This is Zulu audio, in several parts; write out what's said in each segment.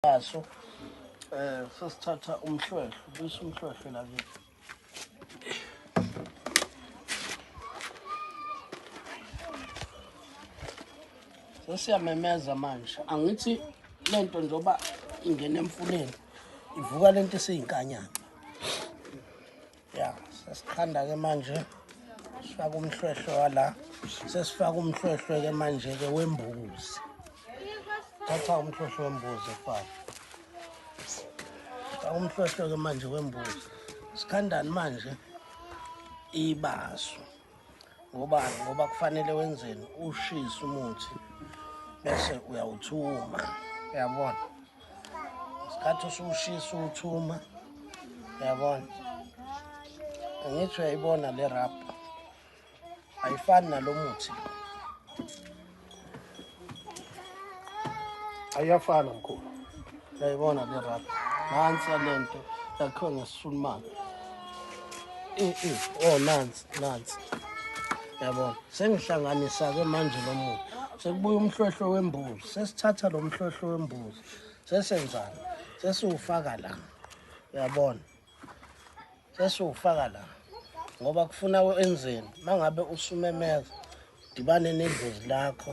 Aso eh sesithatha umhlwehlwe bese umhlwehlwe la ke. Sesiyamemeza manje. Angithi lento njoba ingena emfuleni ivuka lento esiyinkanyana. ya sesiqanda-ke manje sifaka umhlwehlwe wala sesifaka umhlwehlwe-ke manje-ke wembuzi thatha umhlwehlwe wembuzi efaka faka umhlwehlwe-ke manje wembuzi sikhandani manje ibaso ngobani ngoba kufanele wenzeni ushise umuthi bese uyawuthuma uyabona isikhathi usuwushisa uwuthuma uyabona angithi uyayibona le rap ayifani nalo muthi ayafana mkhulu yayibona le rap nansi yalento yakhiwe ngesulumane eh, eh, oh nansi nansi yabona sengihlanganisa-ke manje lo muntu sekubuya umhlohlo wembuzi sesithatha lo mhlohlo wembuzi sesenzani sesiwufaka la uyabona sesiwufaka la ngoba kufuna enzeni mangabe usumemeza dibane nedlozi lakho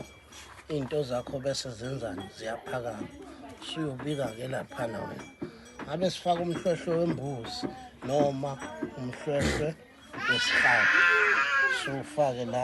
iy'nto zakho bese zenzani ziyaphakama suyobika-ke laphana wena ngabe sifaka umhlwehlwe wembuzi noma umhlwehlwe wesihlalo siwufake la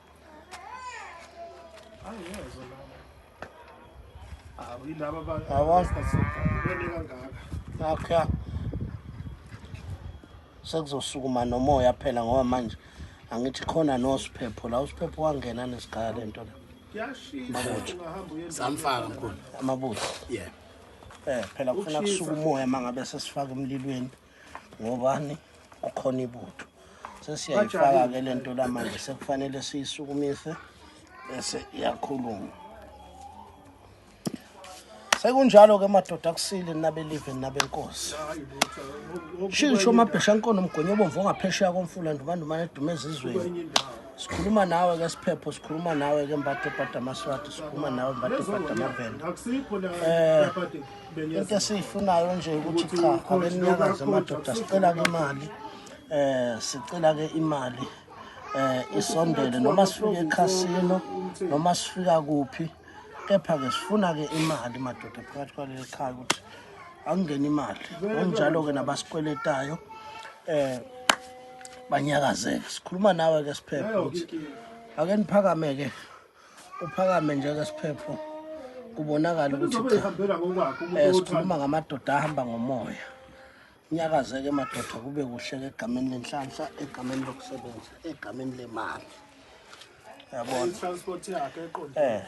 akha sekuzosukuma nomoya phela ngoba manje angithi khona nosiphepho la usiphepho wangena nesigaya le nto le samfaka mkhulu amabutho yeah eh phela kufuna kusuka umoya mangabe sesifaka emlilweni ngobani ukhona ibutho sesiyayifaka ke lento la manje sekufanele siyisukumise bese iyakhuluma sekunjalo ke madoda kusile nabelive nabenkosi shisho mabhesha nkono mgonyo obomvu ongaphesheya komfula ndumandumane edume ezizweni sikhuluma nawe ke siphepho sikhuluma nawe ke mbathe bhada amaswati sikhuluma nawe mbathe bhada amavenda um eh, into esiyifunayo nje ukuthi cha abenyakazi amadoda sicela ke imali eh sicela ke imali eh isondele noma sifike ekhasino noma sifika kuphi kepha ke sifuna ke imali madoda phakathi kwaleli khaya ukuthi akungena imali onjalo ke nabasikweletayo eh banyakazeke sikhuluma nawe ke siphephe ukuthi ake niphakame ke uphakame njeke siphepho kubonakala ukuthi eh, sikhuluma ngamadoda ahamba ngomoya nyakazeke madoda kube kuhle ke egameni lenhlanhla egameni lokusebenza egameni lemali yabona transport yakhe eqonde eh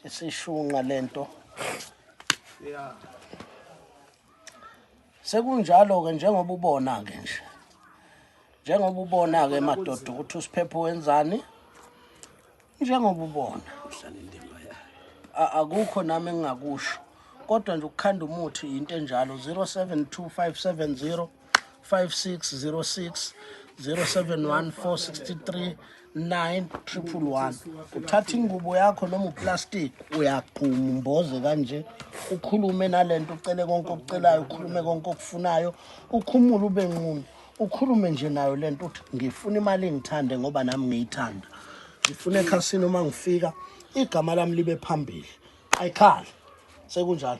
isishunqa lento yeah Sekunjalo-ke njengoba ubona-ke nje njengoba ubona-ke madoda ukuthi usiphepho wenzani njengoba ubona akukho nami engingakusho kodwa nje ukukhanda umuthi yinto enjalo 072 570 5606 071 463 9111 uthatha ingubo yakho noma uplastic uyagquma umboze kanje ukhulume nalento ucele konke okucelayo ukhulume konke okufunayo ukhumule ube nqunu ukhulume nje nayo lento uthi ngifuna imali engithande ngoba nami ngiyithanda ngifuna ekhasini uma ngifika igama lami libe phambili ayikhali sekunjalo